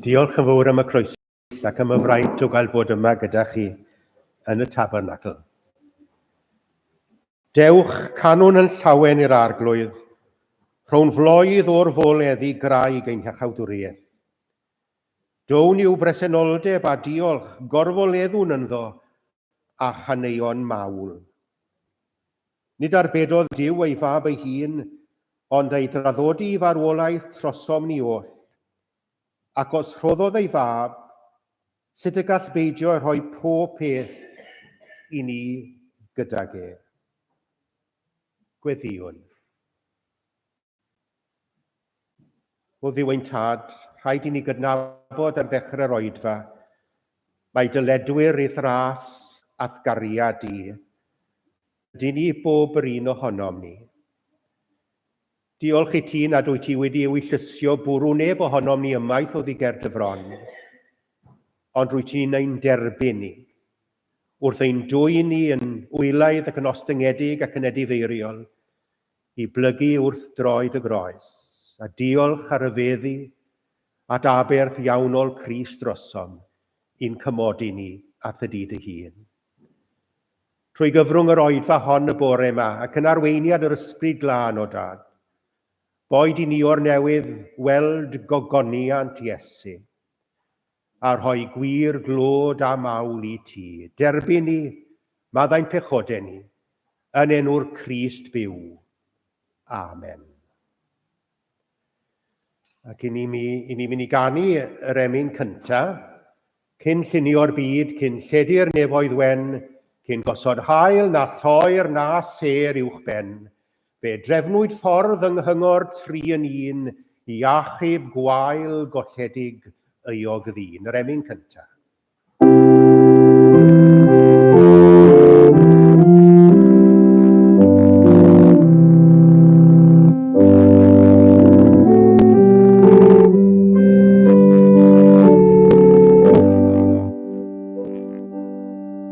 Diolch yn fawr am y croeso ac am y fraint o gael bod yma gyda chi yn y tabernacl. Dewch, canwn yn llawen i'r arglwydd, rhown floedd o'r fol eddi graig ein hachawdwriaeth. Down i'w bresenoldeb a diolch, gorfoleddwn ynddo, a chaneuon mawl. Nid arbedodd Duw ei Fab ei hun, ond ei draddodi i farwolaeth trosom ni oll. Ac os rhoddodd ei Fab, sut y gall beidio rhoi pob peth i ni gydag e? Gweddïwn. O ddiwyn tad, rhaid i ni gydnabod ar ddechrau'r oedfa, mae dyledwyr i ddras a'th gariad di. Ydy ni bob yr un ohonom ni. Diolch i ti nad wyt ti wedi ei llusio bwrw neb ohonom ni ymaith o ddiger dy fron. Ond rwyt ti'n ein derbyn ni. Wrth ein dwy ni yn wylaidd ac yn ostyngedig ac yn edifeiriol, i blygu wrth droed y groes, a diolch ar y feddi at aberth iawnol Crist drosom i'n cymodi ni at y di dy hun. Trwy gyfrwng yr oedfa hon y bore yma, ac yn arweiniad yr ysbryd glân o Dad, boed i ni o'r newydd weld gogoniant Iesu, a rhoi gwir glod a mawl i ti. Derbyn ni, maddau'n pechodau ni, yn enw'r Crist byw. Amen. Ac i ni, mi, i ni fynd i ganu yr emyn cynta, cyn llunio'r byd, cyn lledu'r nefoedd wen, cyn gosod hael na lloer na sêr uwch ben, Fe drefnwyd ffordd yng Nghyngor Tri yn Un i achub gwael golledig euog ddyn, yr emyn cyntaf.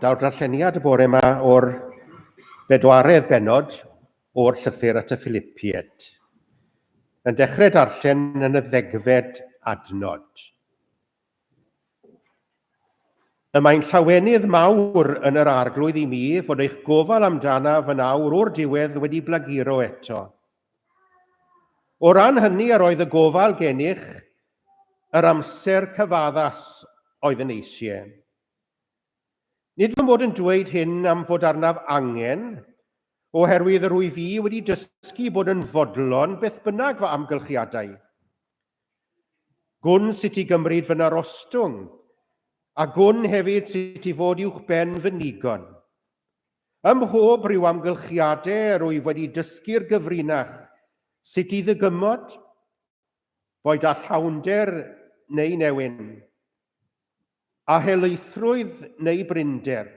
Daw'r darlleniad y bore yma o'r bedwaredd benod o'r llythyr at y Philipied. Yn dechrau darllen yn y ddegfed adnod. Y mae'n llawenydd mawr yn yr arglwydd i mi fod eich gofal amdanaf yn awr o'r diwedd wedi blaguro eto. O ran hynny, yr oedd y gofal gennych yr amser cyfaddas oedd yn eisie. Nid fy mod yn dweud hyn am fod arnaf angen, oherwydd yr wyf i wedi dysgu bod yn fodlon beth bynnag fy amgylchiadau. Gwn sut i gymryd fy narostwng, a gwn hefyd sut i fod uwchben fy nigon. Ym mhob rhyw amgylchiade rwyf wedi dysgu'r gyfrinach sut i ddygymod, boed â llawnder neu newyn, â helaethrwydd neu brinder.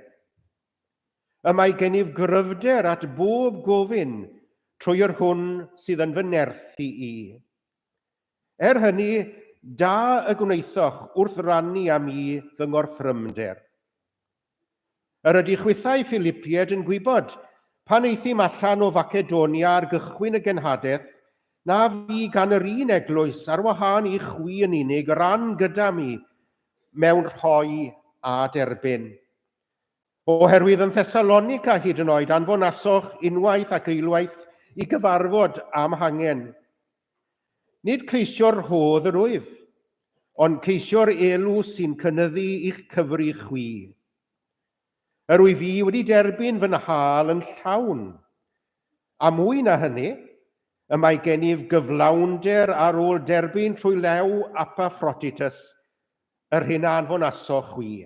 Y mae gennyf gryfder at bob gofyn trwy yr hwn sydd yn fy nerth i i. Er hynny, da y gwnaethoch wrth rannu â mi fy ngorthrymder. Yr ydy chwithau Philipied yn gwybod, pan aethum allan o Facedonia ar gychwyn y genhadaeth, na fu gan yr un eglwys, ar wahân i chwi yn unig, ran gyda mi mewn rhoi a derbyn. Oherwydd yn Thessalonica hyd yn oed anfonasoch unwaith ac eilwaith i gyfarfod am hangen. Nid ceisio'r rhodd yr wyf, ond ceisio'r elw sy'n cynyddu i'ch cyfri chwi. Yr wyf fi wedi derbyn fy nhâl yn llawn. A mwy na hynny, y mae gennyf gyflawnder ar ôl derbyn trwy lew Apaffroditus, yr hyn a anfonasoch chwi.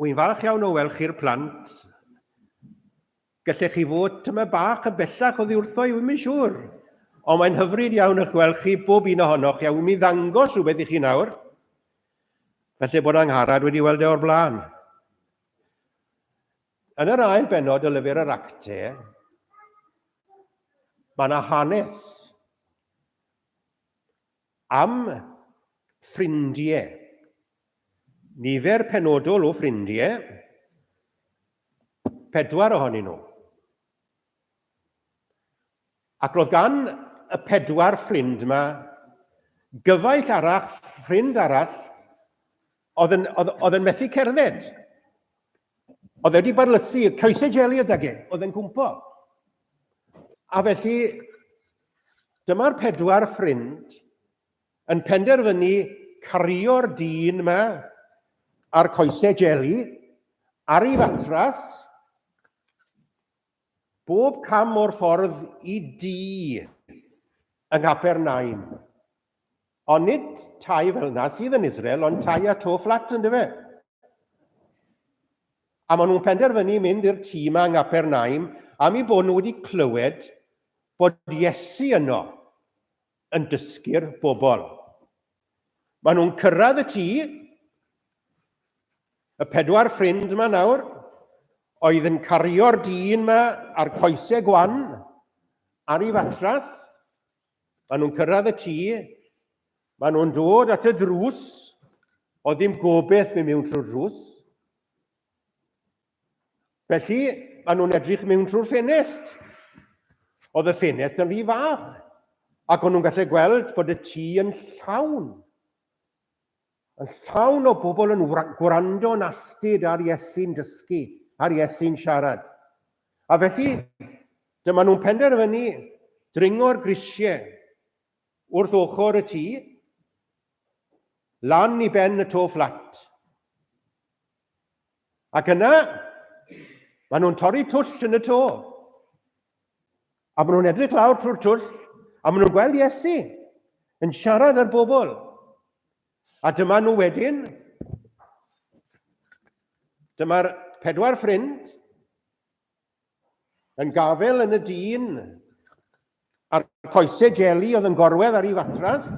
Wy'n falch iawn o weld chi'r plant. Gallech chi fod tyma bach yn bellach oddi wrtho i, wy'n mynd siŵr. Ond mae'n hyfryd iawn eich gweld chi, bob un ohonoch, a wy'n mynd ddangos rhywbeth i chi nawr. Felly bod Angharad wedi weld e o'r blaen. Yn yr ail benod o lyfr yr acte, mae yna hanes. Am ffrindie. Nifer penodol o ffrindie, pedwar ohonyn nhw. Ac roedd gan y pedwar ffrind yma gyfaill arall, ffrind arall, Oedd yn, oedd, oedd yn methu cerdded. Oedd e wedi barlysu, coesau jeli y dage, oedd yn cwmpo. A felly, dyma'r pedwar ffrind yn penderfynu cario'r dyn yma a'r coesau jeli ar ei fatras bob cam o'r ffordd i di yng Nghapernaum. Ond nid tai fel yna sydd yn Israel, ond tai a to fflat yn dyfe? A maen nhw'n penderfynu mynd i'r tŷ yma yng Ngapernaum am i bod nhw wedi clywed bod Iesu yno yn dysgu'r bobl. Maen nhw'n cyrraedd y tŷ, y pedwar ffrind yma nawr, oedd yn cario'r dyn yma a'r coesau gwan ar ei fatras, Maen nhw'n cyrraedd y tŷ, maen nhw'n dod at y drws, o ddim gobeith mynd mewn trwy'r drws. Felly, maen nhw'n edrych mewn trwy'r ffenest. Oedd y ffenest yn rhy fach, ac o'n nhw'n gallu gweld bod y tŷ yn llawn. Yn llawn o bobl yn gwrando'n astud ar Iesu'n dysgu, ar Iesu'n siarad. A felly, dyma nhw'n penderfynu dringo'r grisiau wrth ochr y tŷ, lan i ben y to fflat. Ac yna, maen nhw'n torri twll yn y to. A maen nhw'n edrych lawr trwy'r twll, a maen nhw'n gweld Iesu yn siarad â'r bobl. A dyma nhw wedyn, dyma'r pedwar ffrind, Yn gafel yn y dyn a'r coese jeli oedd yn gorwedd ar ei fatras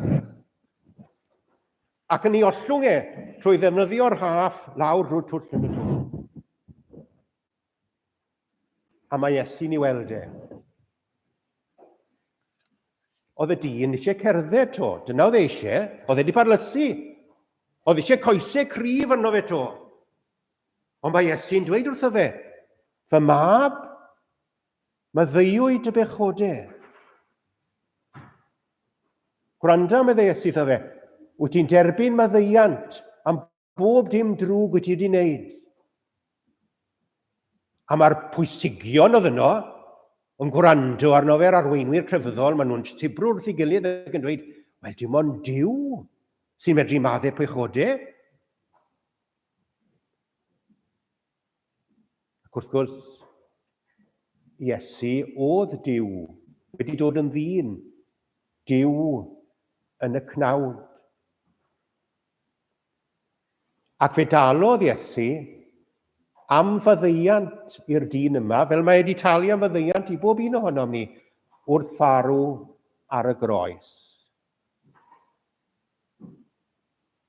ac yn ei ollwng e trwy ddefnyddio'r haff lawr drwy'r twll yn y twll. a mae Iesu'n ei weld e. Oedd y dyn eisiau cerdded to, dyna oedd e eisiau, oedd e wedi parlysu. Oedd eisiau coesau cryf yno fe to. Ond mae Iesu'n dweud wrtho fe, Fy mab, maddeuwyd y bechodau. Gwranda, meddai Iesu wrtho fe, wyt ti'n derbyn maddeiant am bob dim drwg wyt ti wedi wneud. A mae'r pwysigion oedd yno yn gwrando arno fe'r arweinwyr crefyddol, maen nhw'n tibrw wrth ei gilydd ac yn dweud, wel dim ond Dyw sy'n medru madde pechodau. Ac wrth gwrs, Iesu oedd Dyw, wedi dod yn ddyn, Dyw yn y cnawd. Ac fe dalodd Iesu am faddeiant i'r dyn yma, fel mae wedi talu am faddeiant i bob un ohonom ni, wrth farw ar y groes.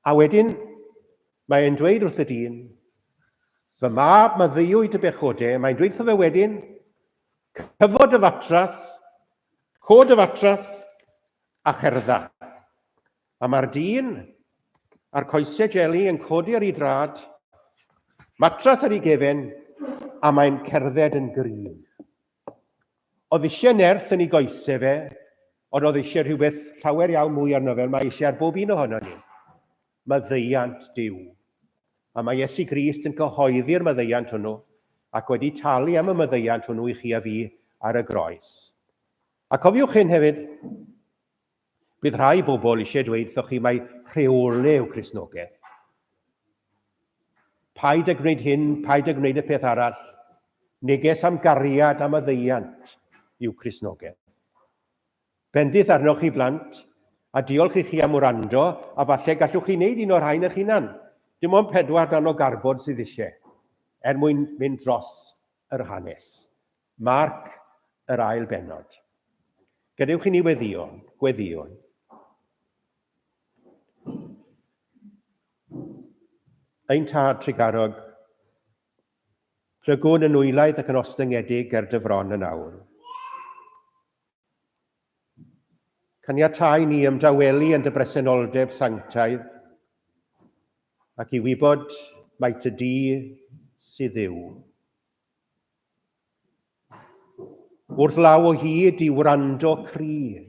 A wedyn, mae e'n dweud wrth y dyn, fy mab maddeuwyd dy bechode, mae'n dweud wrtho fe wedyn, cyfod dy fatras, cod dy fatras, a cherdda. A mae'r dyn a'r coesau jeli yn codi ar ei drad, matras ar ei gefen, a mae'n cerdded yn gryf. Oedd eisiau nerth yn ei goes e fe, ond oedd eisiau rhywbeth llawer iawn mwy arno fe, mae eisiau ar bob un ohono ni. Maddeiant Dyw. A mae Iesu Grist yn cyhoeddi'r maddeiant hwnnw, ac wedi talu am y maddeiant hwnnw i chi a fi ar y groes. A cofiwch hyn hefyd, Bydd rhai bobl eisiau dweud wrthoch chi mai rheole yw Cristnogaeth. Paid â gwneud hyn, paid â gwneud y peth arall. Neges am gariad am y ddeiant yw Cristnogaeth. Bendith arnoch chi blant, a diolch i chi am wrando, a falle gallwch chi wneud un o'r rhain eich hunan. Dim ond pedwar dan o garbod sydd eisiau, er mwyn mynd dros yr hanes. Marc, Yr ail bennod. Gadewch i ni weddïo, gweddïo. Ein tad trugarog, plygwn yn nwylaid ac yn ostyngedig er dy fron yn awr. Caniatai ni ymdawelu yn dy bresenoldeb sanctaidd ac i wybod mai ty di sydd yw. Wrth law o hyd i wrando cryf.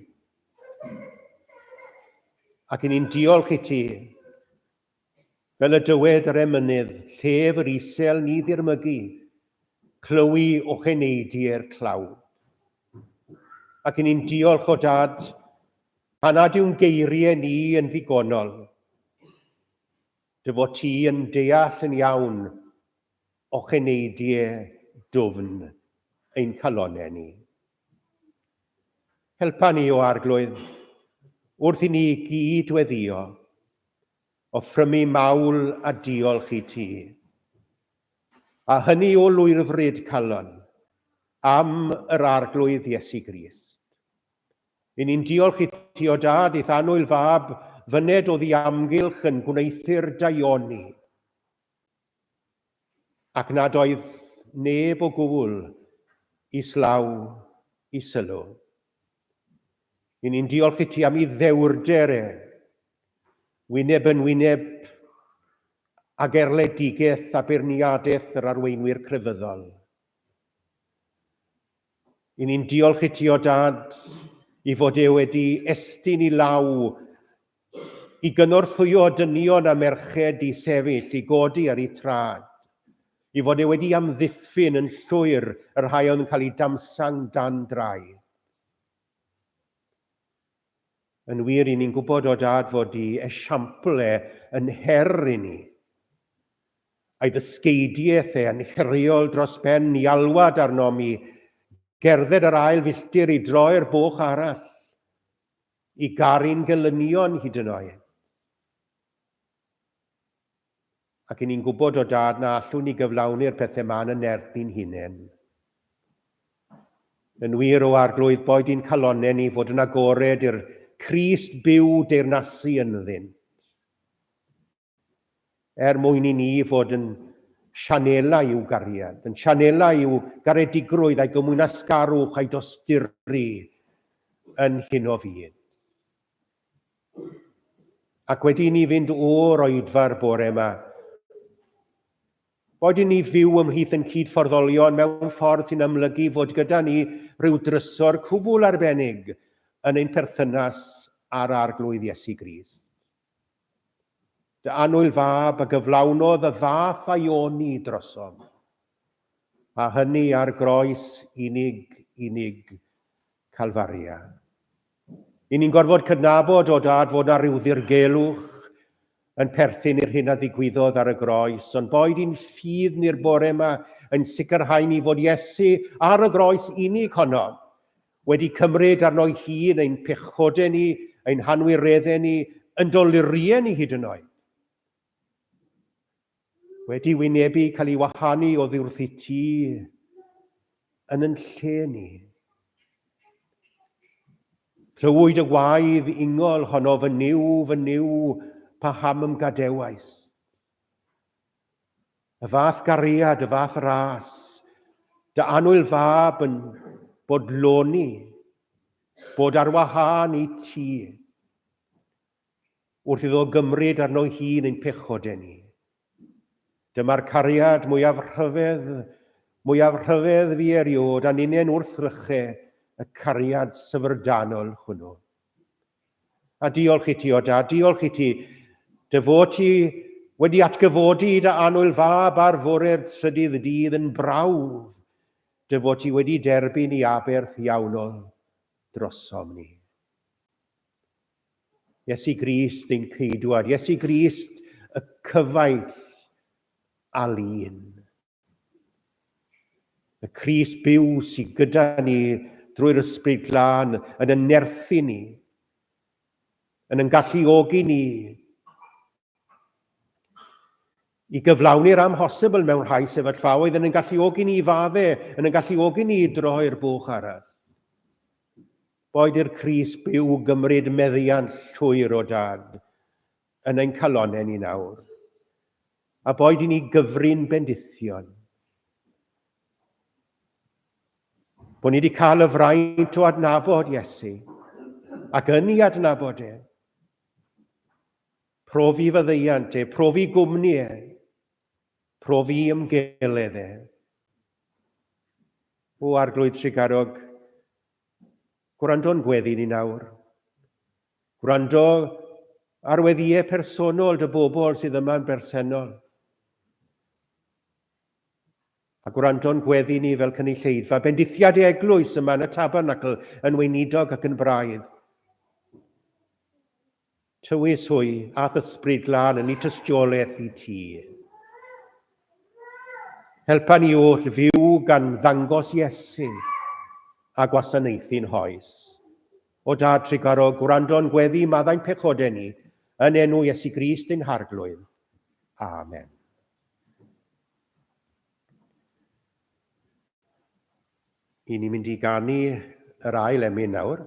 Ac yn un diolch i ti. Fel y dywed yr emynydd, llef yr isel ni ddirmygu, clywi o cheneidiau'r tlawd. Ac yn un diolch o dad, pan nad yw'n geiriau ni yn ddigonol, dy fod ti yn deall yn iawn O cheneidie dwfn ein calonne ni. Helpa ni, o Arglwydd, wrth i ni gyd weddio, o ffrymu mawl a diolch i ti, a hynny o lwyrfryd calon, am yr Arglwydd Iesu Grist. I ni'n diolch i ti, o Dad, i'th annwyl fab, fyned o ddi amgylch yn gwneuthur daioni, ac nad oedd neb o gwbl islaw i sylw. Yn ni'n diolch i ti am i ddewrder e, wyneb yn wyneb ag erledigaeth a beirniadaeth yr arweinwyr crefyddol. Yn ni'n diolch i ti o dad i fod e wedi estyn i law i gynorthwyo dynion a merched i sefyll, i godi ar eu traed, i fod e wedi amddiffyn yn llwyr y rhai oedd yn cael eu damsang dan draed. Yn wir, i ni'n gwybod o Dad fod i esiampl e yn her i ni, a'i ddysgeidiaeth e yn heriol dros ben i alwad arnom i gerdded yr ail filltir i droi'r boch arall, I garu'n gelynion hyd yn oed. Ac i ni'n gwybod o dad na allwn ni gyflawni'r pethau ma'n yn nerth ni'n hunain. Yn wir o arglwydd boed i'n calonau ni fod yn agored i'r Crist byw deyrnasu ynddynt. er mwyn i ni fod yn sianelau i'w gariad, yn sianelau i'w garedigrwydd a'i gymwynasgarwch a'i dosturi yn hyn o fyd. Ac wedi i ni fynd o'r oedfa'r bore yma, Boed i ni fyw ymhlith yn cyd-fforddolion mewn ffordd sy'n amlygu fod gyda ni rhyw drysor cwbl arbennig yn ein perthynas â'r Arglwydd Iesu Grist. Dy annwyl fab, a gyflawnodd y fath a'i oni drosom, a hynny ar groes unig, unig Calfaria. I ni'n gorfod cydnabod, o dad, fod na ryw ddirgelwch yn perthyn i'r hyn a ddigwyddodd ar y groes, ond boed i'n ffydd ni'r bore yma yn sicrhau ni fod Iesu ar y groes unig honno, Wedi cymryd arno'i hun ein pechodau ni, ein hanwireddau ni, yn doluriau ni hyd yn oed. Wedi wynebu cael ei wahanu o ddiwrth i ti yn yn lle ni. Clywyd y waedd ingol honno fy niw, fy niw, pa ham ymgadewais. Y fath gariad, y fath ras, dy annwyl fab yn bodloni, bod ar wahân i ti. Wrth iddo gymryd arno hun ein pechod e ni. Dyma'r cariad mwyaf rhyfedd, mwyaf rhyfedd fi eriod, a ninen wrth ryche y cariad syfrdanol hwnnw. A diolch i ti, o da, diolch i ti. Dy fod ti wedi atgyfodi i dy annwyl fab ar fore'r trydydd dydd yn brawf. Dy fod ti wedi derbyn i aberth iawnol drosom ni. Iesu Grist ein ceidwad, Iesu Grist y cyfaill alun. Y Crist byw sydd gyda ni drwy'r Ysbryd Glân yn y nerthu ni, yn yn galluogi ni i gyflawni'r amhosibl mewn rhai sefyllfaoedd, yn yn galluogi ni i fadde, yn yn galluogi ni i droi'r bwch arall. Boed i'r Cris byw gymryd meddiant llwyr o dad, yn ein calonnau ni nawr, a boed i ni gyfrin bendithion. Bod ni wedi cael y fraint o adnabod Iesu, ac yn ei adnabod e, profi fyddeiant e, profi gwmni e, profi ymgeledd e. O Arglwydd Trigarog, Gwrando'n gweddi ni nawr. Gwrando ar weddiau personol dy bobl sydd yma'n bersennol. A gwrando'n gweddi ni fel cynulleidfa, bendithiad ei eglwys yma yn y tabernacl yn weinidog ac yn braidd. Tywys hwy, a'th Ysbryd Glân yn 'i tystiolaeth i ti. Helpa ni oll fyw gan ddangos Iesu a gwasanaethu'n hoes. O Dad Tregarog, gwrando'n gweddi maddau'n pechodau ni, yn enw Iesu Grist ein Harglwydd. Amen. I ni mynd i ganu yr ail emyn nawr.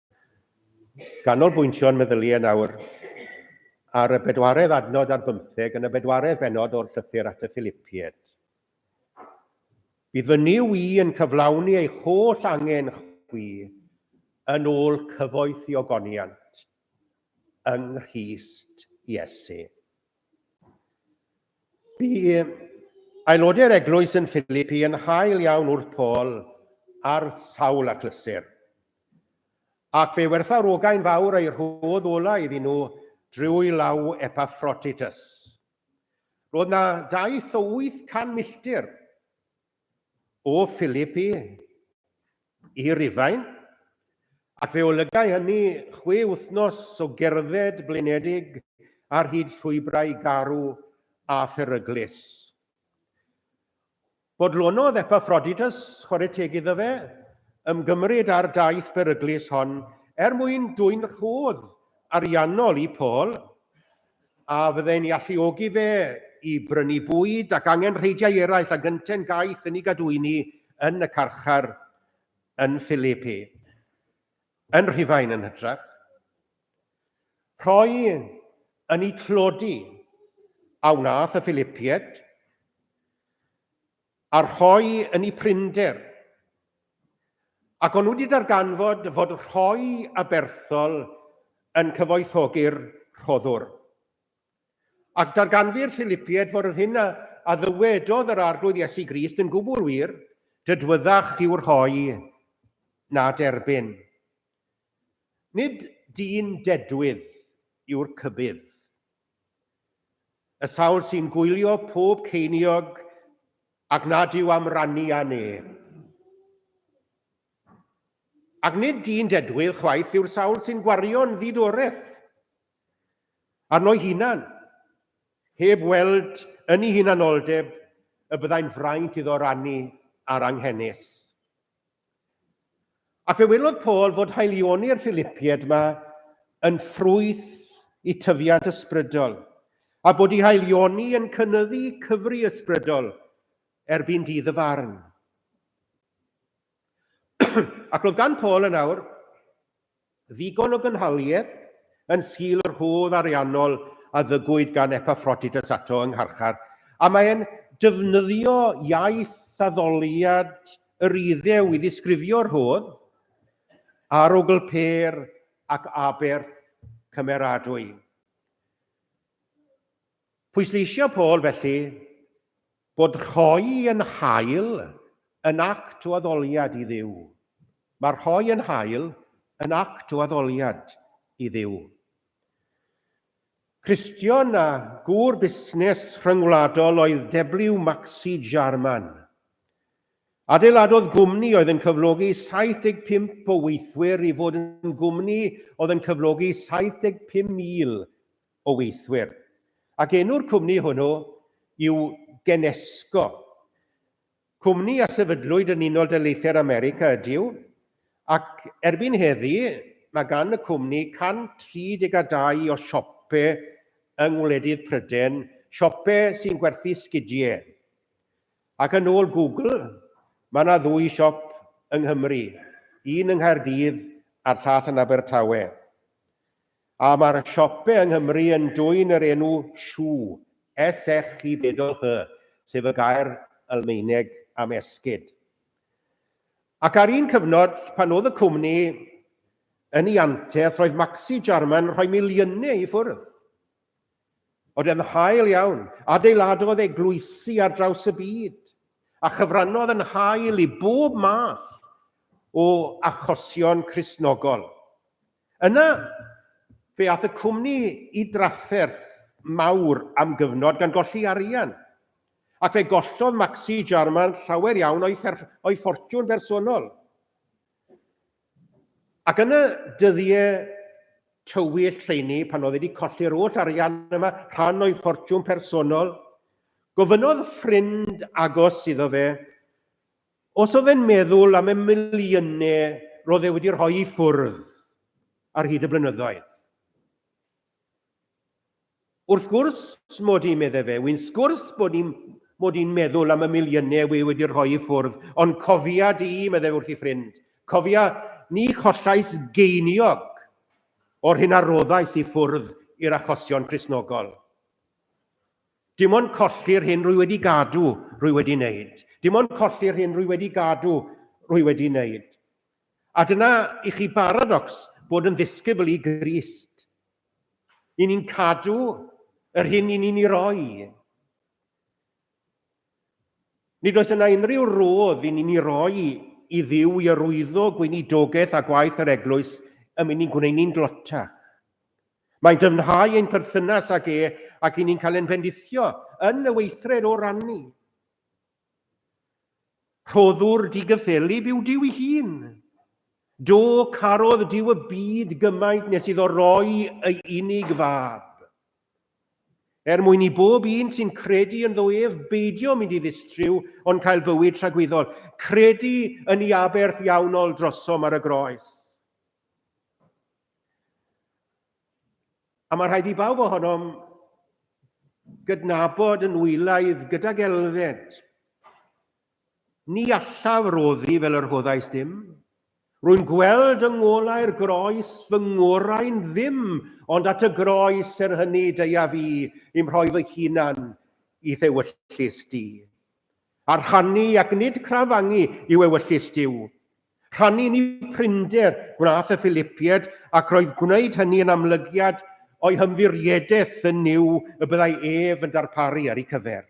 Ganolbwyntio'n meddyliau nawr ar y bedwaredd adnod ar bymtheg yn y bedwaredd bennod o'r Llythyr at y Philipiaid. Bydd fy Nuw i yn cyflawni eich holl angen chwi yn ôl cyfoeth i ogoniant yng Nghrist Iesu. Bu aelodau'r eglwys yn Philipi yn hael iawn wrth Paul ar sawl achlysur. Ac fe wertha rogain fawr eu rhodd ola iddyn nhw drwy law Epaffroditus. Roedd na daith o 800 milltir o Philippi i Rufain, ac fe olygai hynny chwe wythnos o gerdded blinedig ar hyd llwybrau garw a pheryglus. Bodlonodd Epafroditus, chwarae teg iddo fe, ymgymryd â'r daith beryglus hon er mwyn dwyn rhodd ariannol i Paul, a fyddai'n ei alluogi fe i brynu bwyd ac angenrheidiau eraill a gynten gaeth yn ei gadwyni yn y carchar yn Philippi. Yn Rhufain yn hytrach. Rhoi yn eu tlodi a wnaeth y Philipiaid, a rhoi yn eu prinder. Ac o'n nhw wedi darganfod fod rhoi aberthol yn cyfoethogi'r rhoddwr. Ac darganfu'r Philipiaid fod yr hyn a a ddywedodd yr Arglwydd Iesu Grist yn gwbl wir, Dydwyddach i'w rhoi, na derbyn. Nid dyn dedwydd yw'r cybydd. Y sawl sy'n gwylio pob ceiniog ac nad yw am rannu â neb. Ac nid dyn dedwydd chwaith yw'r sawl sy'n gwario'n ddidoreth Arno'i hunan, heb weld yn ei hunanoldeb y byddai'n fraint iddo rannu ar anghenus. Ac fe welodd Paul fod haelioni'r Philipiaid yma yn ffrwyth i tyfiant ysbrydol, a bod ei haelioni yn cynyddu cyfri ysbrydol erbyn dydd y farn. Ac roedd gan Paul yn awr ddigon o gynhaliaeth yn sgil yr hodd ariannol a ddygwyd gan Epaffroditus ato yng ngharchar, a mae e'n defnyddio iaith addoliad yr Iddew i ddisgrifio'r rhodd a'r ogl pêr ac aberth cymeradwy. Pwysleisiodd Paul, felly, bod rhoi yn hael yn act o addoliad i Dduw. Mae rhoi yn hael yn act o addoliad i Dduw. Cristion a gŵr busnes rhyngwladol oedd Deblyw Maxi Jarman. Adeiladodd gwmni oedd yn cyflogi 75 o weithwyr i fod yn gwmni oedd yn cyflogi 75,000 o weithwyr, ac enw'r cwmni hwnnw yw Genesco. Cwmni a sefydlwyd yn Unol Daleithiau'r America ydyw, ac erbyn heddi mae gan y cwmni 132 o siope yng ngwledydd Pryden, siope sy'n gwerthu sgidie. Ac yn ôl Google, mae yna ddwy siop yng Nghymru, un yng Nghaerdydd a'r llall yn Abertawe. A mae'r siope yng Nghymru yn dwyn yr enw Shw, S-h-y-w-h, sef y gair Almaeneg am esgid. Ac ar un cyfnod, pan oedd y cwmni yn ei anterth, roedd Maxi Jarman yn rhoi miliynau i ffwrdd. Oedd e'n hael iawn, adeiladodd eglwysi ar draws y byd, a chyfrannodd yn hael i bob math o achosion Cristnogol. Yna, fe aeth y cwmni i drafferth mawr am gyfnod gan golli arian, ac fe gollodd Maxi Jarman llawer iawn o'i o'i ffortiwn bersonol. Ac yn y dyddiau tywyll rheini, pan oedd wedi colli'r oll arian yma, rhan o'i ffortiwn personol, gofynnodd ffrind agos iddo fe Os oedd e'n meddwl am y miliynau roedd e wedi rhoi i ffwrdd ar hyd y blynyddoedd. Wrth gwrs mod i, meddai fe, wy'n sgwrs bod i'n mod i'n meddwl am y miliynau wy wedi rhoi i ffwrdd, ond cofia di, meddai fe wrth ei ffrind, cofia ni chollais geiniog o'r hyn a roddais i ffwrdd i'r achosion Cristnogol. Dim ond colli'r hyn rwy wedi gadw, rwy wedi wneud. Dim ond colli'r hyn rwy wedi gadw, rwy wedi wneud. A dyna i chi baradocs bod yn ddisgybl i Grist. I ni'n cadw yr hyn i ni'n ei roi. Nid oes yna unrhyw rodd i ni'n ei roi i ddiw i yrwyddo gweinidogaeth a gwaith yr eglwys y mynd ni'n gwneud ni'n glotach. Mae'n dyfnhau ein perthynas ag e ac i ni'n cael ein bendithio yn y weithred o rannu. Rhoddwr digyffelyb yw Duw ei hun. Do carodd Duw y byd gymaint nes iddo roi ei unig fab. Er mwyn i bob un sy'n credu yn ddo ef beidio mynd i ddistriw ond cael bywyd tragwyddol, credu yn ei aberth iawnol drosom ar y groes. A mae rhaid i bawb ohonom gydnabod yn wylaidd gydag elfed. Ni allaf roddi fel yr hoddais ddim. Rwy'n gweld yng ngolau'r groes fy ngorau'n ddim, ond at y groes er hynny deuaf i i'm rhoi fy hunan i ddewyllys di. A rhannu ac nid crafangu yw ewyllys Duw. Rhannu ni prinder gwnaeth y Filipiaid ac roedd gwneud hynny yn amlygiad o'i hymddiriedaeth yn Nuw y byddai ef yn darparu ar ei cyfer.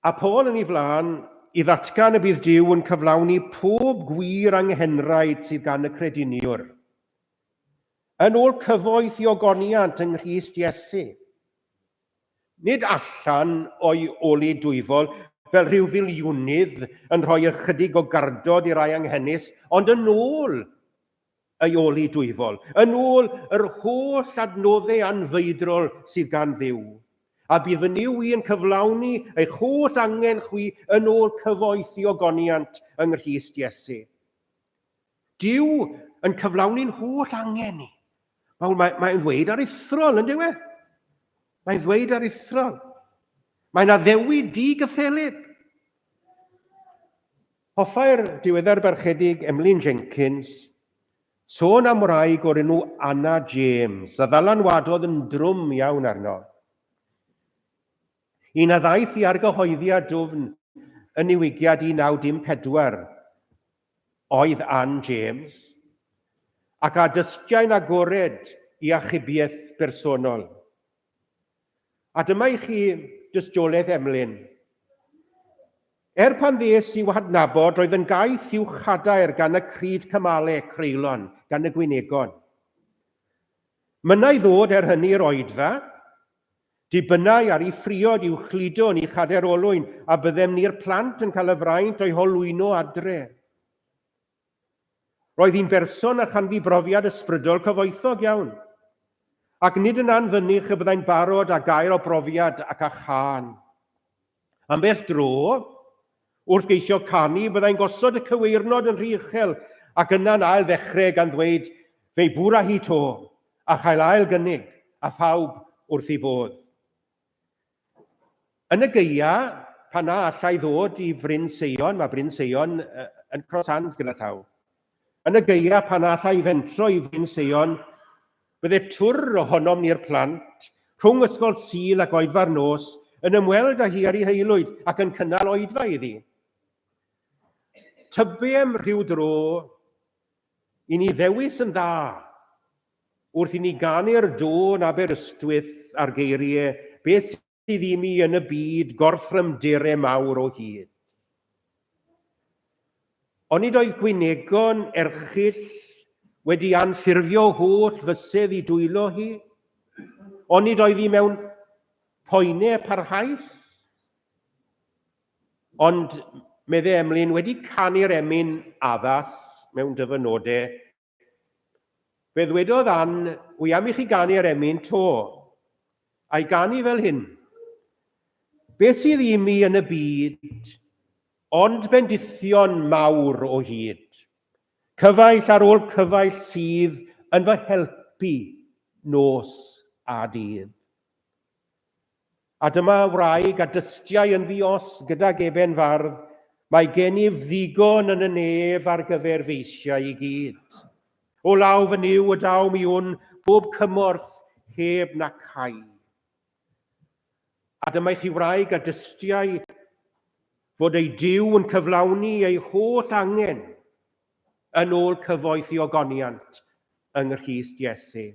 A Paul yn ei flaen i ddatgan y bydd Duw yn cyflawni pob gwir anghenraid sydd gan y crediniwr. Yn ôl cyfoeth i ogoniant yng Nghrist Iesu, Nid allan o'i ol i dwyfol fel rhyw filiwnydd yn rhoi ychydig o gardod i rai anghenus, ond yn ôl ei ol i dwyfol, yn ôl yr holl adnodde anfeidrol sydd gan Dduw, a bydd fy Nuw i yn cyflawni eich holl angen chwi yn ôl cyfoeth i ogoniant yng Nghrist Iesu. Dyw yn cyflawni'n holl angen ni. Mae'n mae, mae ddweud ar ithrol, yn dywe? Mae'n ddweud ar ithrol. Mae'n addewi di gyffelib. Hoffai'r diweddar barchedig Emlyn Jenkins sôn am wraig o'r enw Anna James, a ddalanwadodd yn drwm iawn arno. Un a ddaeth i argyhoeddiad dwfn yn niwigiad 1914, oedd Ann James, ac â dystiau'n agored i achubiaeth bersonol. A dyma i chi dystiolaeth Emlyn. Er pan ddes i'w hadnabod, roedd yn gaeth i'w chadair gan y cryd cymale creulon gan y gwynegon. Mynnai ddod er hynny i'r oedfa, Dibynnai ar y phriod i'w chludo yn ei chader olwyn a byddem ni'r plant yn cael y fraint o'i holwyno adre. Roedd hi'n berson a chanfu brofiad ysbrydol cyfoethog iawn, ac nid yn anfynych y byddai'n barod â gair o brofiad ac â chân. Ambell dro, wrth geisio canu, byddai'n gosod y cyweirnod yn rhy uchel ac yna'n ail ddechrau gan ddweud Fe bwra hi 'to! a chael ail gynnig, a phawb wrth ei fodd. Yn y gaeau, pan na allai ddod i Fryn Seion, mae Bryn Seion yn Cross Hands gyda llaw. Yn y gaeaf pan all a'i fentro i Fryn Seion, bydde twr ohonom ni'r plant, rhwng ysgol Sul ac oedfa'r nos, yn ymweld â hi ar ei haelwyd ac yn cynnal oedfa iddi. Tybiem rhyw dro i ni ddewis yn dda wrth i ni ganu'r dôn Aberystwyth ar geiriau beth sydd i mi yn y byd gorthrymdir e mawr o hyd. Onid oedd gwynegon erchill wedi anffurfio holl fysedd i dwylo hi? Onid oedd hi mewn poene parhaus? Ond, medde Emlyn, wedi canu'r emyn addas mewn dyfynodau, Fe ddwedodd Ann, wy am i chi ganu ar emyn to. A'i ganu fel hyn. Beth sydd i mi yn y byd, ond bendithion mawr o hyd. Cyfaill ar ôl cyfaill sydd yn fy helpu nos a dydd. A dyma wraig a dystiai yn ddi-os gydag eben fardd, Mae gennyf ddigon yn y nef ar gyfer feisiau i gyd. O law fy Nuw y daw mi wn bob cymorth heb na cau. A dyma i chi wraig a dystiai fod ei Duw yn cyflawni ei holl angen yn ôl cyfoeth i ogoniant yng Nghrist Iesu.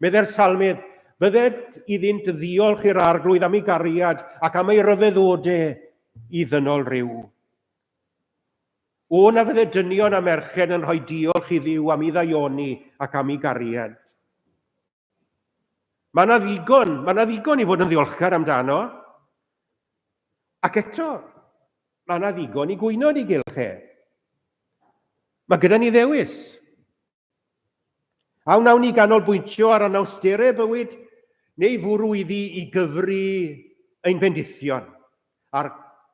Medde'r Salmydd, Bydded iddynt ddiolch i'r arglwydd am ei gariad ac am ei ryfeddode i ddynol rhyw. O na fydde dynion a merched yn rhoi diolch i ddiw am ei ddaioni ac am ei gariad. Mae yna ddigon, mae yna ddigon i fod yn ddiolchgar amdano. Ac eto, mae yna ddigon i gwyno yn ei gylch e. Mae gyda ni ddewis. A wnawn ni ganolbwyntio ar anawsterau bywyd neu fwrw iddi i gyfri ein bendithion a'r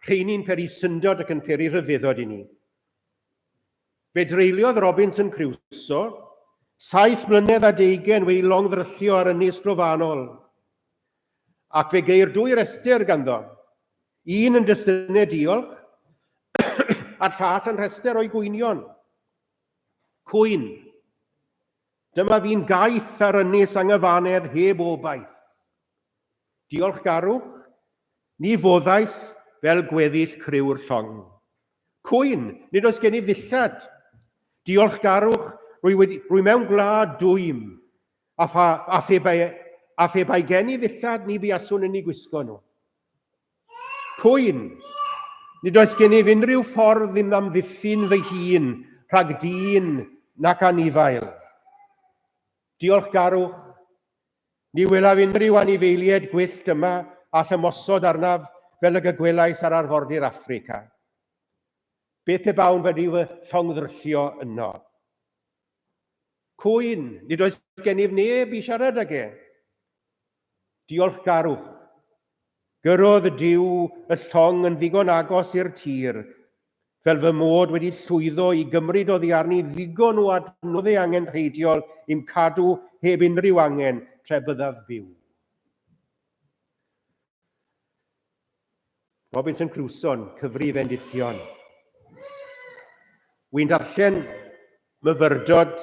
rheini'n peri syndod ac yn peri rhyfeddod i ni. Fe dreuliodd Robinson Crusoe saith mlynedd a deugain wedi'i longddryllio ar ynys drofannol, ac fe geir dwy restr ganddo, un yn destynedd diolch a'r llall yn rhestr o'i gwynion. Cwyn, Dyma fi'n gaeth ar ynys anghyfanedd heb obaith. Diolchgarwch, ni foddais fel gweddill criw'r llong. Cwyn, nid oes gen i ddillad! Diolchgarwch, rwy wedi, rwy mewn gwlad dwym, a pha, a phe bai, a phe bai gen i ddillad ni buaswn yn i gwisgo nhw. Cwyn, nid oes gennyf unrhyw ffordd i'm amddiffyn fy hun rhag dyn nac anifail. Diolchgarwch, Ni welaf unrhyw anifeiliaid gwyllt yma all ymosod arnaf fel y gygwelais ar arfordir Affrica. Beth pe bawn wedi fy llongddryllo yno? Cŵyn, nid oes gennyf neb i siarad ag e. Diolchgarwch, Gyrrodd Duw y llong yn ddigon agos i'r tir, fel fy mod wedi llwyddo i gymryd oddi arni ddigon o adnoddau angenrheidiol i'm cadw heb unrhyw angen tra byddaf byw. Robinson Crusoe'n cyfrif endithion. Wy'n darllen myfyrdod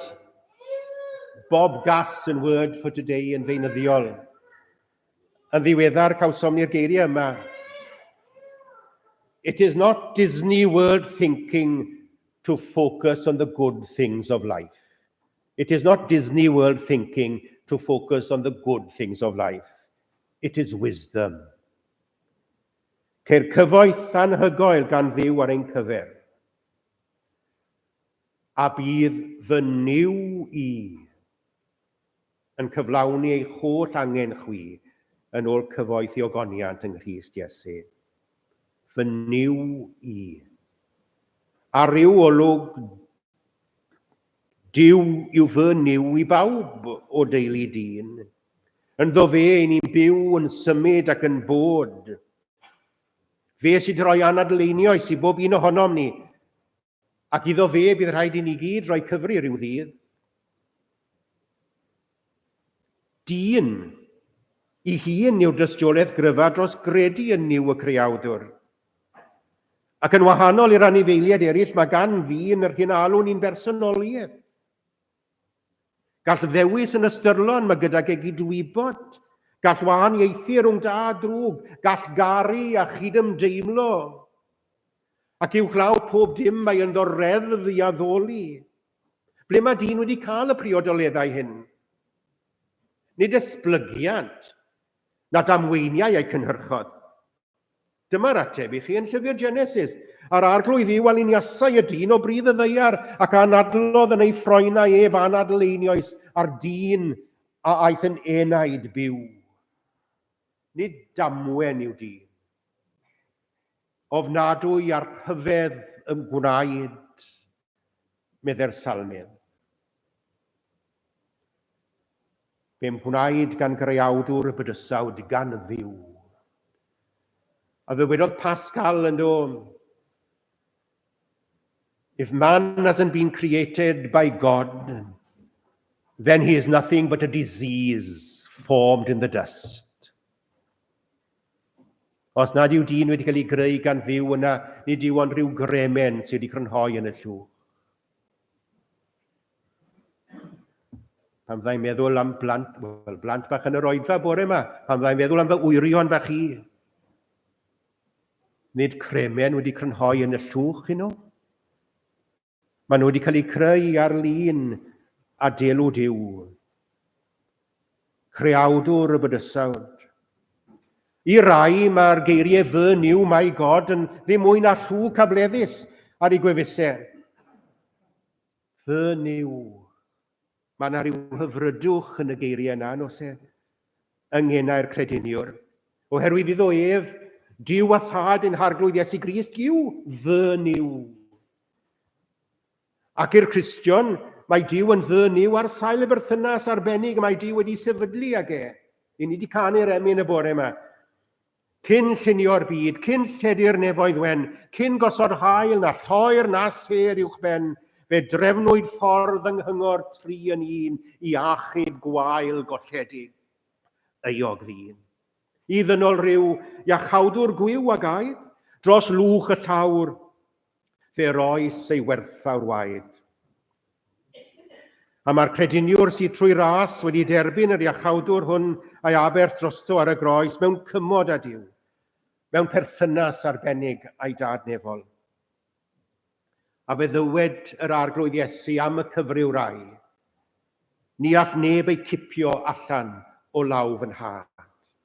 Bob Gass yn Word for Today yn feunyddiol. Yn ddiweddar cawsom ni'r geiriau yma. It is not Disney World thinking to focus on the good things of life. It is not Disney World thinking to focus on the good things of life. It is wisdom. Ceir cyfoeth anhygoel gan ddiw ar ein cyfer. A bydd fy niw i yn cyflawni eich holl angen chwi yn ôl cyfoeth i ogoniant yng Nghrist Iesu. Fy niw i. A rhyw olwg Dyw yw fy niw i bawb o deulu dyn. Ynddo fe ein ni'n byw, yn symud ac yn bod. Fe sydd wedi rhoi anadl einioes i bob un ohonom ni, Ac iddo fe, bydd rhaid i ni gyd roi cyfri rhyw ddydd. Dyn. I hun yw'r dystiolaeth gryfa dros gredu yn Nuw y Creawdwr. Ac yn wahanol i'r anifeiliaid eraill, mae gan ddyn yr hyn alwn i'n bersonoliaeth. Gall ddewis yn ystyrlon, mae gydag e gydwybod, gall wahaniaethu rhwng da a drwg, gall garu a chydymdeimlo. Ac uwchlaw pob dim mae ynddo reddf i addoli. Ble mae dyn wedi cael y priodoleddau hyn? Nid esblygiant, na damweiniau eu cynhyrchodd. Dyma'r ateb i chi yn llyfr Genesis. A'r Arglwydd Dduw a liniasai y dyn o bridd y ddaear, ac anadlodd yn ei ffroenau ef anadl einioes a'r dyn a aeth yn enaid byw. Nid damwen yw dyn. Ofnadwy a'r rhyfedd ym gwnaed, meddai'r salmydd. Fe'm gwnaed gan greawdwr y bydysawd gan Dduw. A ddywedodd Pascal yn do, If man hasn't been created by God, then he is nothing but a disease formed in the dust. Os nad yw dyn wedi cael ei greu gan Dduw yna nid yw ond rhyw gremen sydd wedi crynhoi yn y llwch. Pan fyddai'n meddwl am blant, wel, blant bach yn yr oedfa bore yma, pan fyddai'n meddwl am fy wyrion bach i, nid cremen wedi crynhoi yn y llwch hyn nhw. Maen nhw wedi cael eu creu ar-lin a delw Duw, creawdwr y bydysawd. I rai mae'r geiriau fy new my God yn ddim mwy na llw cableddus ar ei gwefusau. Fy new. Mae yna ryw hyfrydwch yn y geiriau yna, nos e, yng ngenau'r crediniwr. Oherwydd iddo ef, Dyw a thad yn harglwydd Iesu Grist yw fy niw. Ac i'r Cristion, mae Dyw yn fy niw ar sail y berthynas arbennig y mae Dyw wedi sefydlu ag e. I ni wedi canu'r emyn y bore yma. Cyn llunio'r byd, cyn lledu'r nefoedd wen, cyn gosod haul na lloer na sêr uwch ben, fe drefnwyd ffordd yng nghyngor tri yn un i achub gwael golledig. Euog ddyn. I ddynol ryw iachawdwr gwiw a gaed, dros lwch y llawr, Fe roes ei werthfawr waed. A mae'r crediniwr sydd trwy ras wedi derbyn yr iachawdwr hwn a'i aberth drosto ar y groes mewn cymod a Duw, mewn perthynas arbennig a'i dad nefol. A fe ddywed yr arglwydd Iesu am y cyfryw rai, Ni all neb ei cipio allan o law fy nhad.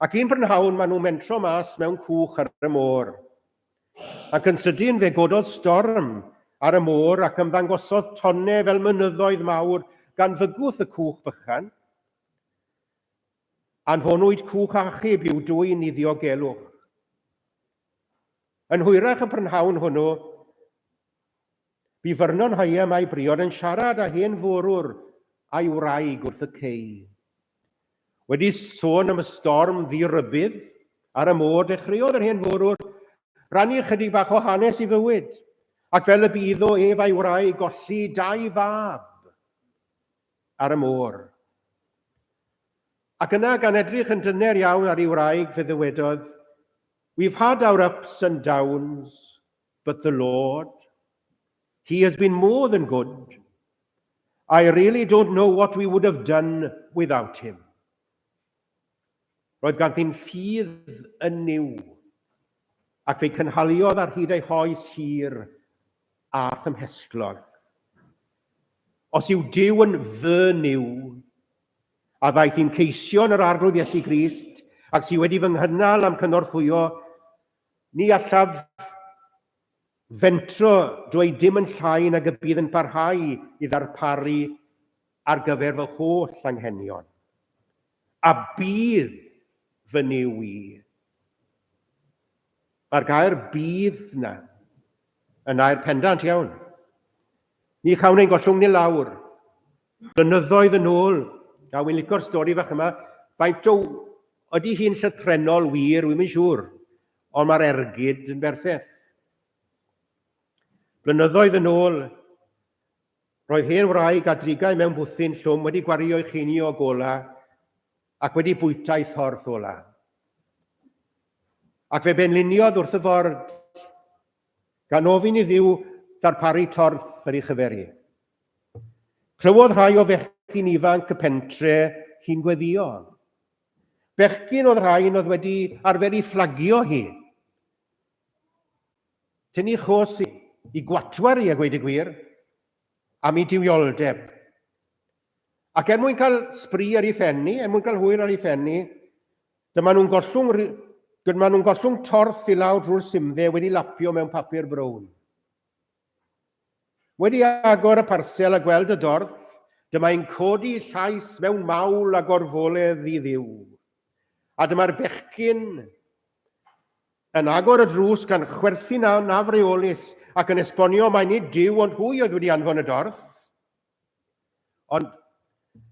Ac un brynhawn maen nhw'n mentro mas mewn cwch ar y môr. Ac yn sydyn fe gododd storm ar y môr ac ymddangosodd tonne fel mynyddoedd mawr gan fygwth y cwch bychan. Anfonwyd cwch achub i'w dwyn i ddiogelwch. Yn hwyrach y prynhawn hwnnw, Bu Vernon Hyam a'i briod yn siarad â hen fwrwr a'i wraig wrth y cei. Wedi sôn am y storm ddi-rybudd ar y môr, dechreuodd yr hen fwrwr rannu ychydig bach o hanes ei fywyd, ac fel y bu iddo ef a'i wraig golli dau fab ar y môr. Ac yna, gan edrych yn dyner iawn ar ei wraig, fe ddywedodd, We've had our ups and downs, But the Lord, He has been more than good. I really don't know what we would have done without Him. Roedd ganddi'n ffydd yn niw, ac fe'i cynhaliodd ar hyd ei hoes hir a thymhestlog. Os yw Dyw yn fy niw, a ddaeth i'n ceisio yn yr arglwydd Iesu Grist, ac sydd wedi fy nghynnal am cynorthwyo Ni allaf fentro dweud dim yn llai nag y bydd yn parhau i ddarparu ar gyfer fy holl anghenion, a bydd fy Nuw i, mae'r gair 'bydd' na, yn air pendant iawn. Ni chawn ein gollwng ni lawr, Blynyddoedd yn ôl, a wi'n licio'r stori fach yma, faint o... ydy hi'n llythrennol wir, wi'm yn siŵr, ond mae'r ergyd yn berffeth. Blynyddoedd yn ôl, roedd hen wraig a drigau mewn bwthyn llwm wedi gwario'i chini o gola ac wedi bwyta'i thorth ola. Ac fe benliniodd wrth y ford gan ofyn i Dduw ddarparu torth ar ei chyfer i. Clywodd rhai o fechgyn ifanc y pentre hi'n gweddio. Bechgyn oedd rhain oedd wedi arfer i fflagio hi. Tynnu chos i, i gwatwar i a gweud y gwir, am ei diwioldeb. Ac er mwyn cael sbri ar ei phenni, er mwyn cael hwyl ar ei phenni, Dyma nhw'n gollwng ry... Dyma nhw'n gollwng torth i lawr drwy'r simdde wedi lapio mewn papur brown. Wedi agor y parsel a gweld y dorth, dyma i'n codi llais mewn mawl a gorfoledd i ddiw. A dyma'r bechgyn yn agor y drws gan chwerthin a nafreolus ac yn esbonio mai nid Duw ond hwy oedd wedi anfon y dorth. Ond,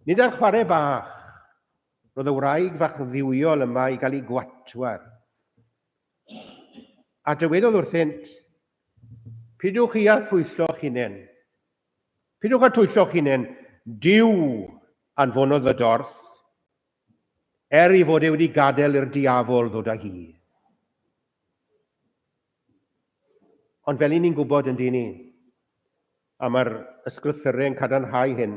nid ar chwarae bach, roedd y wraig fach dduwiol yma i gael ei gwatwar. A dywedodd wrthynt, Pidwch chi â thwyllo'ch hunain. Pidwch â thwyllo'ch hunain, Dyw anfonodd y dorth, er ei fod e wedi gadael i'r diafol ddod â hi. Ond fel i ni'n gwybod yn dyn ni, A mae'r ysgrythyrau yn cadarnhau hyn.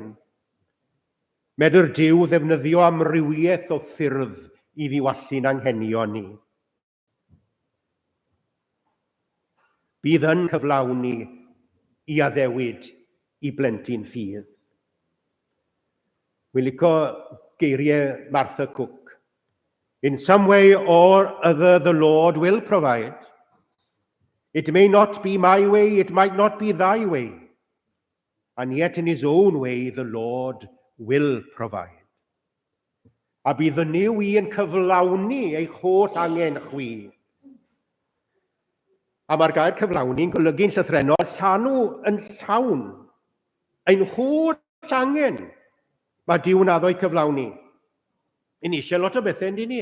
Medr Duw ddefnyddio amrywiaeth o ffyrdd i ddiwallu'n anghenion ni. Bydd yn cyflawni i addewid i blentyn ffydd. Wi'n licio geiriau Martha Cook, In some way or other the Lord will provide. It may not be my way, it might not be thy way. And yet in his own way the Lord will provide. A bydd y new i yn cyflawni eich holl angen chwi. A mae'r gair cyflawni'n golygu'n llythrenol llanw yn llawn ein holl angen Mae Duw yn addo i cyflawni. Yn eisiau lot o bethau, yndyn ni?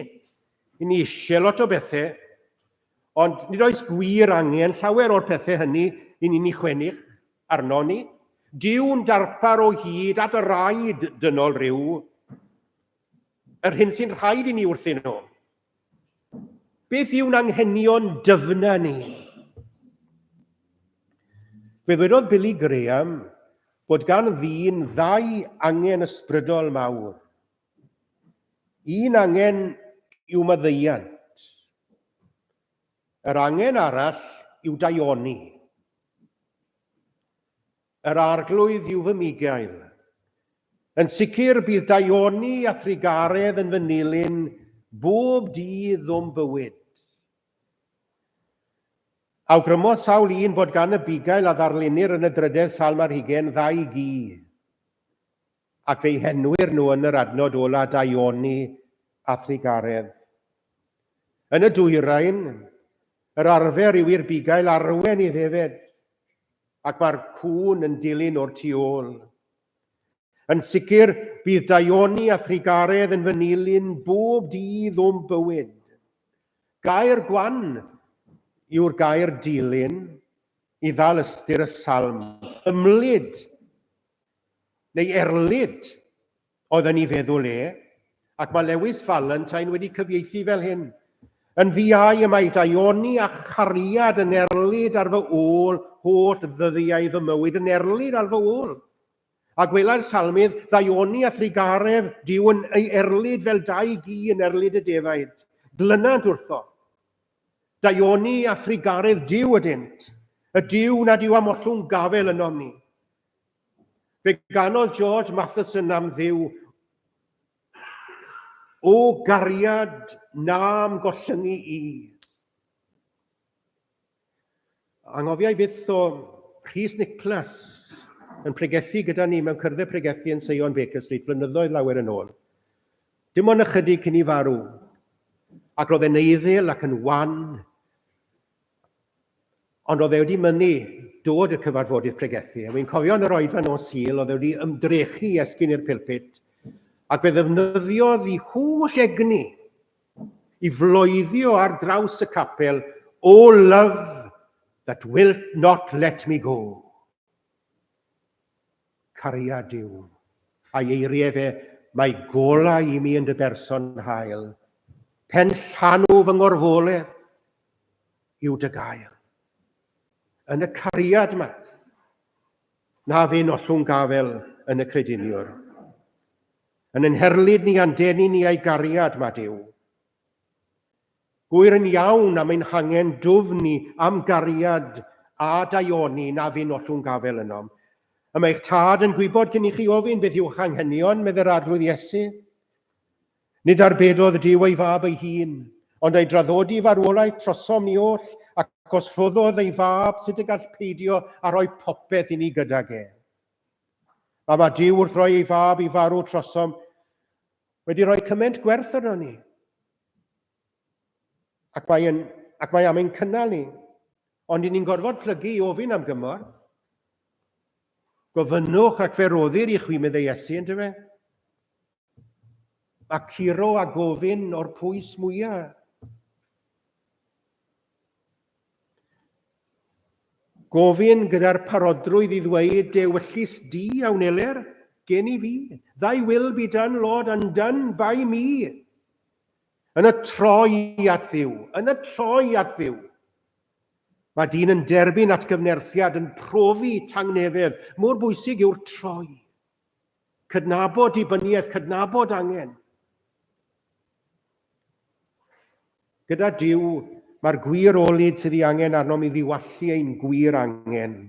Yn eisiau lot o bethau, ond nid oes gwir angen llawer o'r pethau hynny i ni'n ei chwennych arno ni. Dyw'n darpar o hyd at y raid dynol rhyw, yr hyn sy'n rhaid i ni wrthyn nhw. Beth yw'n anghenion dyfna ni? Fe ddwedodd Billy Graham bod gan ddyn ddau angen ysbrydol mawr. Un angen yw maddeuant. Yr angen arall yw daioni. Yr Arglwydd yw fy migail. Yn sicr, bydd daioni a thrugaredd yn fy nilyn bob dydd o'm bywyd. Awgrymodd sawl un bod gan y bugail a ddarlunnir yn y drydedd Salm ar Hugain ddau gi, ac fe'i henwir nhw yn yr adnod ola daioni a thrugaredd. Yn y Dwyrain, yr arfer yw i'r bugail arwen i ddefed, ac mae'r cŵn yn dilyn o'r tu ôl. Yn sicr, bydd Daioni a Thrigaredd yn fy nilyn bob dydd o'm bywyd. Gair gwan yw'r gair dilyn i ddal ystyr y salm, ymlid neu erlid oedd yn ei feddwl e, ac mae Lewis Valentine wedi cyfieithu fel hyn, Yn ddiau y mae daioni a chariad yn erlid ar fy ôl holl ddyddiau fy mywyd, yn erlid ar fy ôl. A gwelai'r salmydd, ddaioni a thrugaredd, Dyw yn ei erlid fel dau gi yn erlid y defaid, glynant wrtho. Daioni a thrugaredd Dyw ydynt, y Dyw nad yw am ollwng gafel ynom ni. Fe ganodd George Matheson am Dduw o gariad na'm gollyngu i. Anghofiau byth o Rhys Nicholas yn pregethu gyda ni mewn cyrddau pregethu yn Seion Baker Street flynyddoedd lawer yn ôl. Dim ond ychydig cyn i farw, ac roedd e'n eiddil ac yn wan, Ond oedd e wedi mynnu dod i'r cyfarfodydd pregethu, a wi'n cofio yn yr oedfa nos Sul oedd e wedi ymdrechu i esgyn i'r pilpit, ac fe ddefnyddiodd i holl egni i floeddio ar draws y capel, O love that wilt not let me go. Cariad yw, a'i eirie efe, Mae golau i mi yn dy berson hael, Pen llanw fy ngorfoledd yw dy gael. Yn y cariad ma, na fyn ollwng gafel yn y crediniwr. Yn yn herlid ni a'n denu ni a'i gariad ma Duw. Gŵyr yn iawn am ein hangen dwfn ni am gariad a daioni na fyn ollwng gafel ynom. Y mae eich Tad yn gwybod cyn i chi ofyn beth yw'ch anghenion, medd yr Arglwydd Iesu. Nid arbedodd Duw ei Fab ei hun, ond ei draddodi farwolaeth trosom ni oll, ac os rhoddodd ei Fab, sut y gall peidio a rhoi popeth i ni gydag e? Mae mae Duw wrth roi ei Fab i farw trosom wedi rhoi cyment gwerth arno ni. Ac mae, yn, ac mae am ein cynnal ni. Ond i ni'n gorfod plygu i ofyn am gymorth. Gofynnwch ac fe roddir i chwi meddai Iesu, yn dyfe? Mae curo a gofyn o'r pwys mwyaf. Gofyn gyda'r parodrwydd i ddweud dewyllys di a wneler gen i fi, Thy will be done, Lord, undone by me. Yn y troi at Dduw, yn y troi at Dduw. Mae dyn yn derbyn atgyfnerthiad, yn profi tangnefedd, mor bwysig yw'r troi. Cydnabod dibyniaeth, cydnabod angen. Gyda Dyw, mae'r gwir olyd sydd ei angen arnom i ddiwallu ein gwir angen.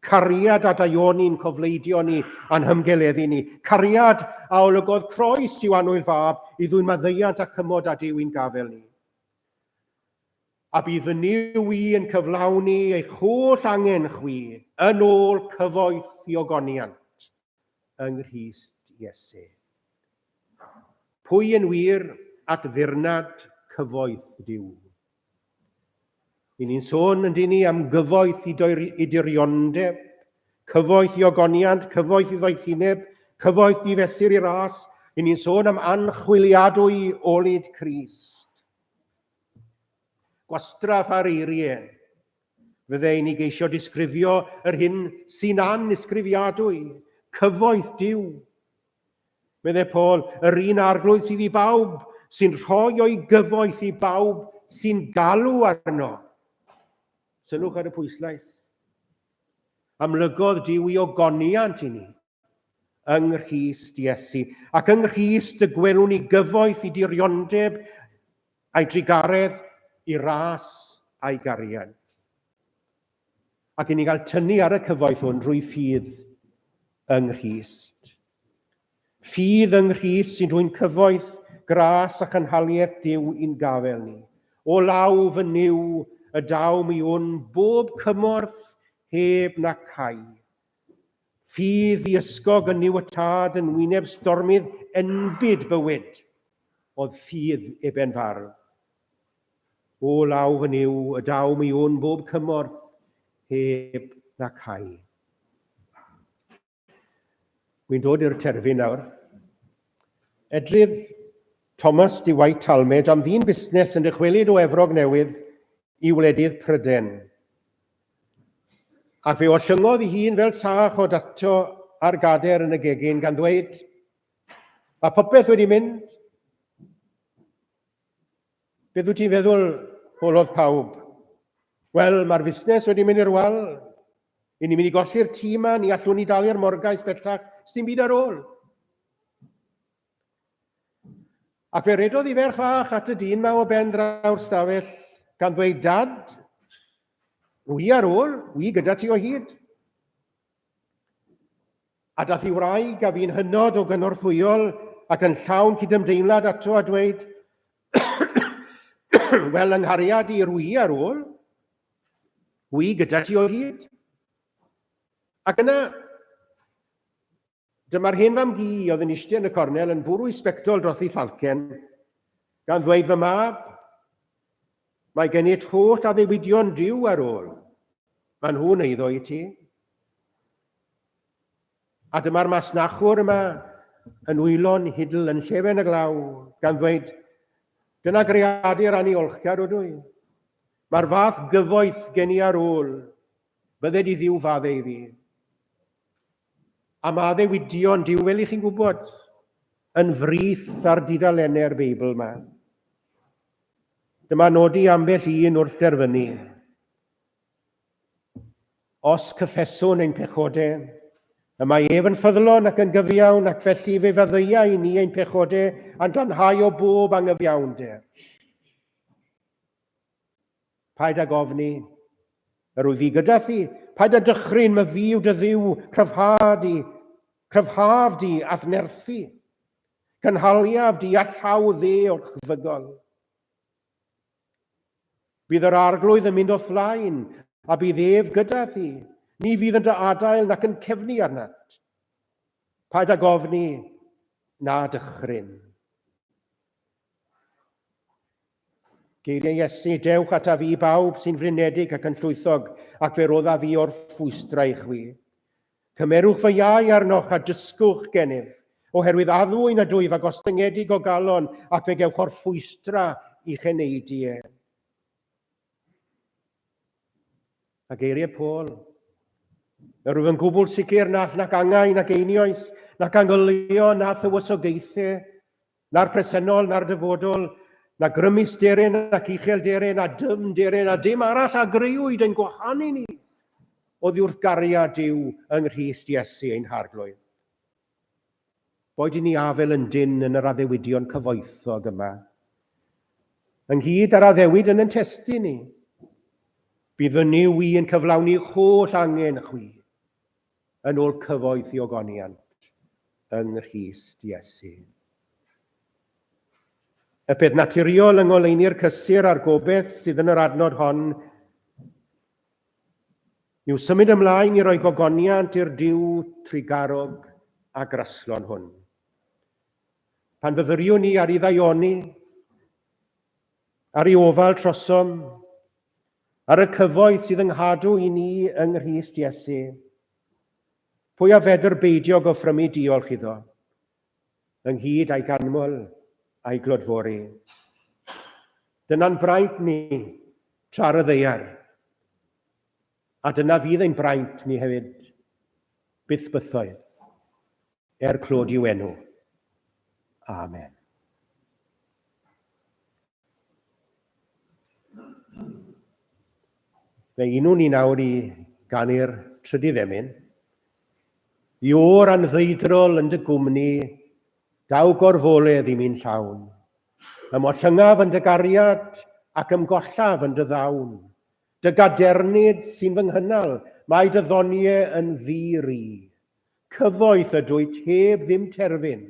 Cariad a daioni'n cofleidio ni a'n hymgeleddu ni. Cariad a olygodd croes i'w anwyl fab i ddwyn maddeuant a chymod a Dyw i'n gafel ni. A bydd fy Nyw i yn cyflawni eich holl angen chwi yn ôl cyfoeth i ogoniant. yng Nghrist Iesu. Pwy yn wir at ddirnad cyfoeth Duw? I ni'n sôn yn dyn ni am gyfoeth i, i diriondeb, cyfoeth i ogoniant, cyfoeth i ddoethineb, cyfoeth i fesur i ras, i ni'n sôn am anchwiliadwy olyd Cris. Gwastraff ar eiriau, Fydde i'n i geisio disgrifio yr hyn sy'n annisgrifiadwy, cyfoeth Duw. Medde Paul, yr un arglwydd sydd i bawb, sy'n rhoi o'i gyfoeth i bawb sy'n galw arno. Sylwch ar y pwyslais. Amlygodd Duw i ogoniant i ni. yng Nghrist Iesu. Ac yng Nghrist y gwelwn ni gyfoeth i diriondeb a'i drugaredd i ras a'i gariad. Ac i ni gael tynnu ar y cyfoeth hwn drwy ffydd yng Nghrist. Ffydd yng Nghrist sy'n rhwy'n cyfoeth, gras a chynhaliaeth Dyw i'n gafel ni. O law fy niw y daw mi wn bob cymorth heb na cai. Ffydd i ysgog yn Niw y Tad yn wyneb stormydd enbyd bywyd, oedd ffydd Eben Fardd. O law fy Nuw, y daw mi wn bob cymorth heb na cau. Wy'n dod i'r terfyn nawr. Edrydd Thomas de White Talmage am ddyn busnes yn dychwelyd o Efrog Newydd i wledydd Pryden. Ac fe ollyngodd ei hun fel sach o dato ar gader yn y gegin, gan ddweud, Mae popeth wedi mynd. Beth wyt ti'n feddwl? holodd pawb. Wel, mae'r fusnes wedi mynd i'r wal. I ni'n mynd i golli'r tîm yma, ni allwn ni dalu'r morgais bellach, sdim byd ar ôl. Ac fe redodd i ferch fach at y dyn ma o ben draw'r stafell, gan ddweud, Dad, rwy i ar ôl, wi gyda ti o hyd. A dath i wraig a fi'n hynod o gynorthwyol ac yn llawn cydymdeimlad ato a dweud, Wel, yng nghariad i, rwy i ar ôl, wi gyda ti o hyd. Ac yna, Dyma'r hen fam gi oedd yn eistedd yn y cornel yn bwrw i sbectol dros ei thalcen, gan ddweud fy mab, mae gen it holl addewidion diw ar ôl, maen nhw'n eiddo i ti. A dyma'r masnachwr yma yn wylo'n hidl yn llefen y glaw, gan ddweud, dyna greadur aniolchgar ydw i. Mae'r fath gyfoeth gen i ar ôl, bydde di ddiw fadde i fi. A mae addewidion Duw, fel i chi'n gwybod, yn frith ar dudalennau'r Beibl yma. Dyma nodi ambell un wrth derfynu. Os cyffeswn ein pechode, y mae ef yn ffyddlon ac yn gyfiawn ac felly fe fyddeia i ni ein pechode a'n glanhau o bob angyfiawnder. Paid ag ofni, yr wyf fi gyda thi, paid â dychryn, my fi yw dy dduw, cryfha di, cryfhaf di, a'th nerthu. Cynhaliaf di a llaw dde o'r chfygol. Bydd yr arglwydd yn mynd o flaen, a bydd ef gyda thi, ni fydd yn dy adael nac yn cefnu arnat. Paid ag ofni, na dychryn. Geiriau Iesu, Dewch ata fi bawb sy'n flinedig ac yn llwythog, ac fe rodda fi o'r ffwystra i chwi. Cymerwch fy iau arnoch a dysgwch gennyf, oherwydd addwy nad wyf a gostyngedig o galon, ac fe gewch o'r ffwystra i cheneidu e. A geiriau Paul, Yr wyf yn gwbl sicr nall nac angau, nac einioes, nac angyllio, na thywysogaethau, Na'r presennol, na'r dyfodol, na grymus deren ac uchel deren, a dym deren, a dim arall a greuwyd yn gwahanu ni oddi wrth gariad Duw yng Nghrist Iesu ein Harglwydd. Boed i ni afel yn dyn yn yr addewidion cyfoethog yma, ynghyd â'r addewid yn yn testyn ni, bydd fy niw i yn cyflawni'ch holl angen chwi. yn ôl cyfoeth i ogoniant yng Nghrist Iesu. Y peth naturiol yng ngoleuni'r cysur a'r gobeith sydd yn yr adnod hon yw symud ymlaen i roi gogoniant i'r diw trigarog a graslon hwn. Pan fyddwriwn ni ar i ddaioni, ar i ofal trosom, Ar y cyfoeth sydd yng nghadw i ni yng Nghrist Iesu, pwy a fedr beidio gofrymu diolch iddo, ynghyd a'i ganmol a'i glodfori. Dyna'n braint ni tra ar y ddeiar, a dyna fydd ein braint ni hefyd, byth bythoedd, er clod i'w enw. Amen. Fe unwn ni nawr i ganu'r trydydd emyn. Iwr anddwydrol yn dy gwmni, daw gorfoledd i mi'n llawn. Ymollyngaf yn dy gariad ac ymgollaf yn dy ddawn. Dy gadernid sy'n fy nghynnal, mae dy ddoniau yn ddi-ri. Cyfoeth ydwyt heb ddim terfyn,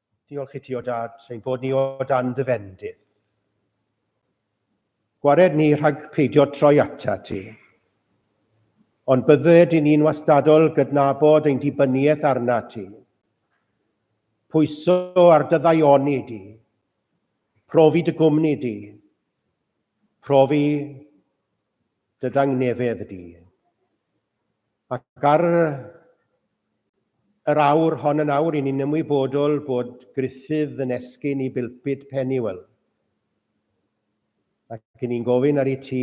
Diolch i ti o dad, ein bod ni o dan dy fendith. Gwared ni rhag peidio troi ata ti. Ond bydded i ni'n wastadol gydnabod ein dibyniaeth arna ti. Pwyso ar dyddaioni di. Profi dy gwmni di. Profi dy dangnefedd di. Ac ar yr awr hon yn awr, i ni'n ymwybodol bod Gruffydd yn esgyn i bilpid Pennywell. Ac i ni'n gofyn ar ei ti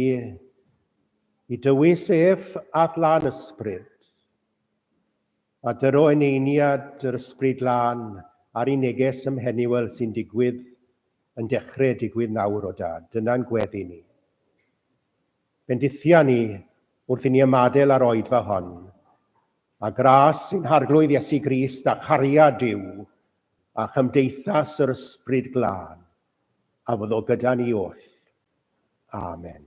i dywys ef at lan ysbryd, a dyro eneiniad yr ysbryd lan ar ei neges ym Mhennywell sy'n digwydd, yn dechrau digwydd nawr o dad, dyna'n gweddi ni. Bendithion ni wrth i ni ymadael â'r oed fel hon, a gras sy'n Harglwydd Iesu Grist a chariad Duw a chymdeithas yr Ysbryd Glân, a fyddo gyda ni oll. Amen.